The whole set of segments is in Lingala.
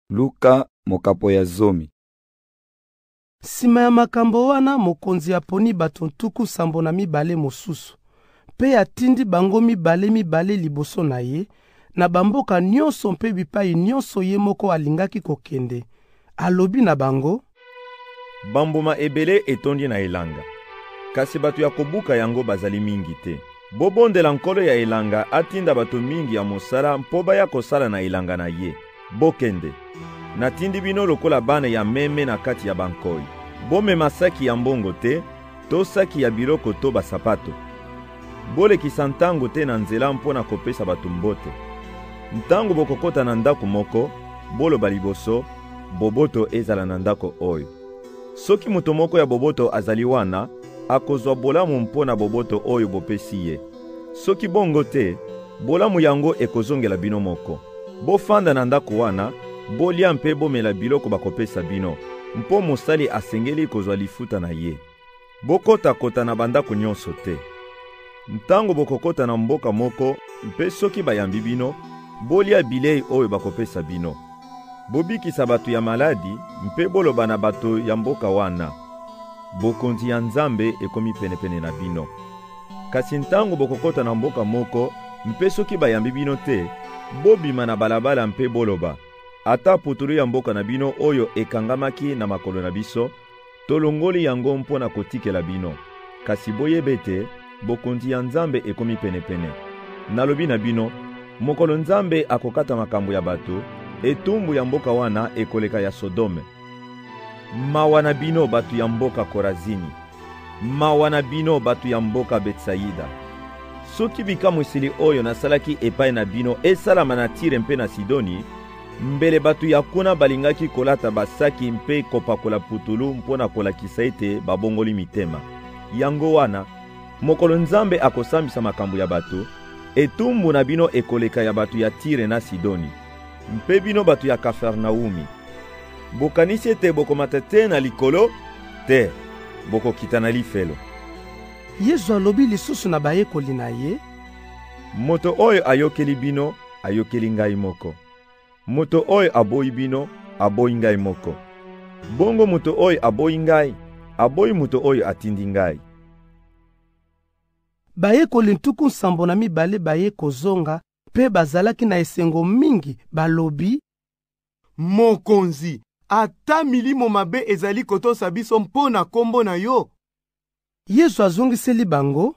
Luka mokapo ya zomi. Nsima ya makambo wana, mokonzi aponi bato ntuku sambo na mibale mosusu, mpe atindi bango mibale mibale liboso na ye, na bamboka nyonso mpe bipai nyonso ye moko alingaki kokende. Alobi na bango, Bambuma ebele etondi na elanga, kasi bato ya kobuka yango bazali mingi te. Bobondela nkolo ya elanga atinda bato mingi ya mosala mpo baya kosala na elanga na ye. Bokende, natindi bino lokola bana ya meme na kati ya bankoi. Bomema saki ya mbongo te, to saki ya biloko to basapato. Bolekisa ntango te na nzela mpo na kopesa bato mbote. Ntango bokokota na ndako moko, boloba liboso, boboto ezala na ndako oyo. Soki moto moko ya boboto azali wana, akozwa bolamu mpo na boboto oyo bopesi ye. Soki bongo te, bolamu yango ekozongela bino moko. Bofanda na ndako wana, bolia mpe bomela biloko bakopesa bino, mpo mosali asengeli kozwa lifuta na ye. Bokota-kota na bandako nyonso te. Ntango bokokota na mboka moko mpe soki bayambi bino, bolia bilei oyo bakopesa bino. Bobikisa bato ya maladi mpe boloba na bato ya mboka wana, Bokonzi ya Nzambe ekomi penepene na bino. Kasi ntango bokokota na mboka moko, mpe soki bayambi bino te, bobima na balabala mpe boloba, ata putulu ya mboka na bino oyo ekangamaki na makolo na biso, tolongoli yango mpo na kotikela bino. Kasi boyebe ete bokonzi ya Nzambe ekomi penepene. Nalobi na bino, mokolo Nzambe akokata makambo ya bato, etumbu ya mboka wana ekoleka ya Sodome. Mawa na bino bato ya mboka Korazini! Mawa na bino bato ya mboka Betsaida! Soki bikamwiseli oyo nasalaki epai na bino esalama na Tire mpe na Sidoni, mbele bato ya kuna balingaki kolata basaki mpe kopakola putulu mpo na kolakisa ete babongoli mitema. Yango wana, mokolo Nzambe akosambisa makambo ya bato, etumbu na bino ekoleka ya bato ya Tire na Sidoni. Mpe bino bato ya Kafarnaumi, bokanisi ete bokomata te na likolo? Te, bokokita na lifelo. Yezu alobi lisusu na bayekoli na ye, Moto oyo ayokeli bino, ayokeli ngai moko. Moto oyo aboyi bino, aboyi ngai moko. Bongo moto oyo aboyi ngai, aboyi moto oyo atindi ngai. Bayekoli ntuku nsambo na mibale baye kozonga mpe bazalaki na esengo mingi, balobi, Mokonzi, ata milimo mabe ezali kotosa biso mpo na nkombo na yo? Yezu azongiseli bango,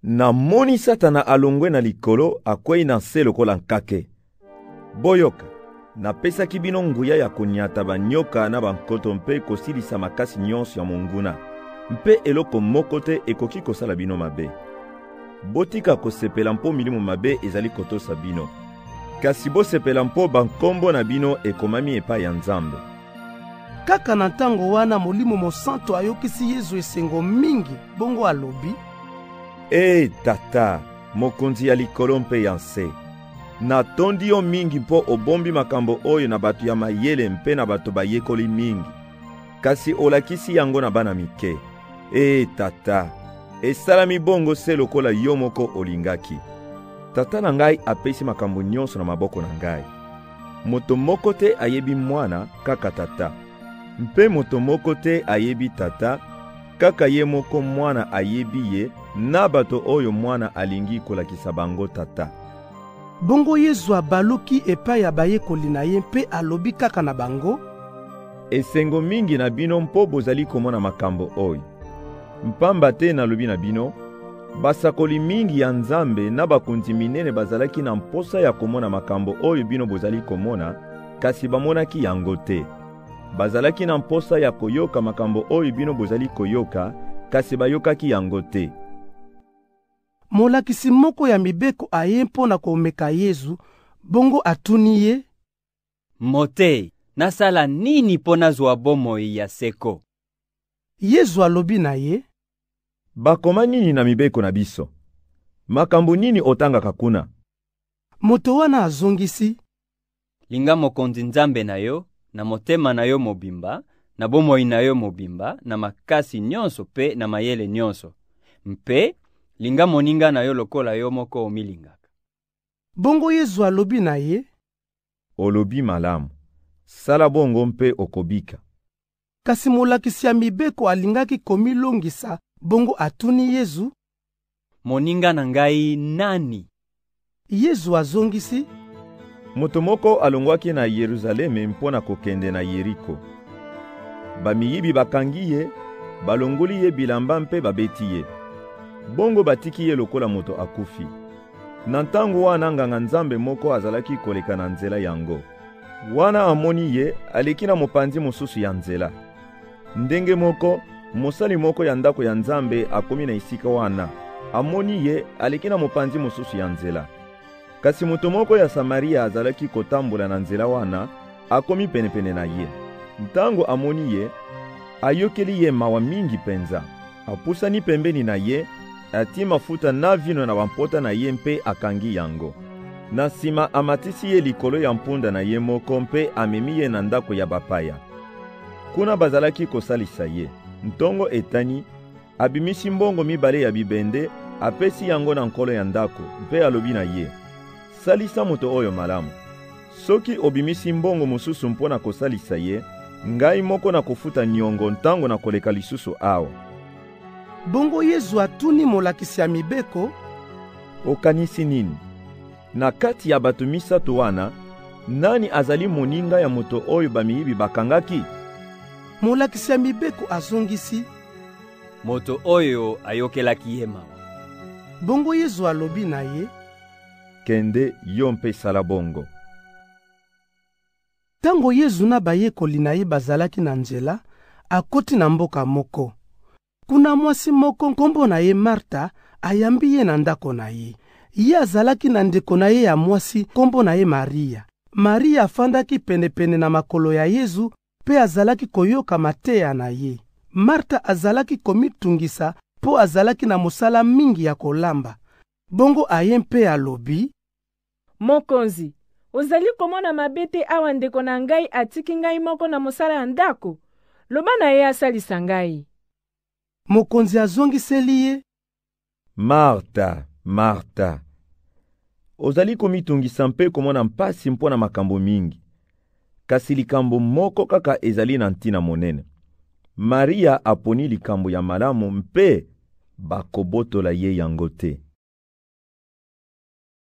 Namoni Satana alongwe na Likolo, akwei na nse lokola nkake. Boyoka! Napesaki bino nguya ya konyata banyoka na bankoto mpe kosilisa makasi nyonso ya monguna, mpe eloko moko te ekoki kosala bino mabe. Botika kosepela mpo milimo mabe ezali kotosa bino, kasi bosepela mpo bankombo na bino ekomami epai ya Nzambe. Kaka na ntango wana Molimo Mosanto ayokisi Yezu esengo mingi, bongo alobi, Ee Tata, Mokonzi ya likolo mpe ya nse, Natondi yo mingi mpo obombi makambo oyo na bato ya mayele mpe na bato bayekoli mingi, kasi olakisi yango na bana mike. Ee Tata, esalami bongo se lokola yo moko olingaki. Tata na ngai apesi makambo nyonso na maboko na ngai. Moto moko te ayebi mwana, kaka Tata. Mpe moto moko te ayebi Tata Kaka ye moko mwana ayebi ye na bato oyo mwana alingi kolakisa bango tata. Bongo Yezu abaluki epai ya bayekoli na ye mpe alobi kaka na bango, Esengo mingi na bino mpo bozali komona makambo oyo. Mpamba te nalobi na bino, basakoli mingi ya Nzambe na bakonzi minene bazalaki na mposa ya komona makambo oyo bino bozali komona, kasi bamonaki yango te. Bazalaki na mposa ya koyoka makambo oyo bino bozali koyoka, kasi bayokaki yango te. Molakisi moko ya mibeko aye mpo na komeka Yezu, bongo atuni ye, Moteyi, nasala nini mpo nazwa bomoi ya seko? Yezu alobi na ye, Bakoma nini na mibeko na biso? Makambo nini otangaka kuna? Moto wana azongisi, Linga Mokonzi Nzambe na yo na motema na yo mobimba, na bomoi na yo mobimba, na makasi nyonso mpe na mayele nyonso. Mpe linga moninga na yo lokola yo moko omilingaka. Bongo Yezu alobi na ye. Olobi malamu. Sala bongo mpe okobika. Kasi molakisi ya Mibeko alingaki komilongisa, bongo atuni Yezu, Moninga na ngai nani? Yezu azongisi, Moto moko alongwaki na Yeruzaleme mpo na kokende na Yeriko. Bamiyibi bakangi ye, balongoli ye bilamba mpe babeti ye. Bongo batiki ye lokola moto akufi. Na ntango wana nganga-Nzambe moko azalaki koleka na nzela yango. Wana amoni ye, aleki na mopanzi mosusu ya nzela. Ndenge moko, mosali moko ya ndako ya Nzambe akomi na esika wana. Amoni ye, aleki na mopanzi mosusu ya nzela. Kasi moto moko ya Samaria azalaki kotambola na nzela wana, akomi penepene na ye. Ntango amoni ye, ayokeli ye mawa mingi penza. Apusani pembeni na ye, atii mafuta na vino na bampota na ye mpe akangi yango. Na nsima amatisi ye likolo ya mpunda na ye moko mpe amemi ye na ndako ya bapaya. Kuna bazalaki kosalisa ye. Ntongo etani, abimisi mbongo mibale ya bibende, apesi yango na nkolo ya ndako mpe alobi na ye, Salisa moto oyo malamu. Soki obimisi mbongo mosusu mpo na kosalisa ye, ngai moko nakofuta nyongo ntango nakoleka lisusu awa. Bongo Yezu atuni molakisi ya Mibeko, Okanisi nini? Na kati ya bato misato wana, nani azali moninga ya moto oyo bamiyibi bakangaki? Molakisi ya Mibeko azongisi, Moto oyo ayokelaki ye mawa. Bongo Yezu alobi na ye, Kende yo mpe sala bongo. Tango Yezu na bayekoli na ye bazalaki na nzela, akoti na mboka moko. Kuna mwasi moko nkombo na ye Marta ayambi ye na ndako na ye. Ye azalaki na ndeko na ye ya mwasi nkombo na ye Maria. Maria afandaki penepene na makolo ya Yezu mpe azalaki koyoka mateya na ye. Marta azalaki komitungisa mpo azalaki na mosala mingi ya kolamba. Bongo aye mpe alobi. Mokonzi, ozali komona mabe te awa ndeko na ngai atiki ngai moko na mosala ya ndako? Loba na ye asalisa ngai. Mokonzi azongiseli ye. Marta, Marta, ozali komitungisa mpe komona mpasi mpo na makambo mingi. Kasi likambo moko kaka ezali na ntina monene. Maria aponi likambo ya malamu mpe bakobotola ye yango te.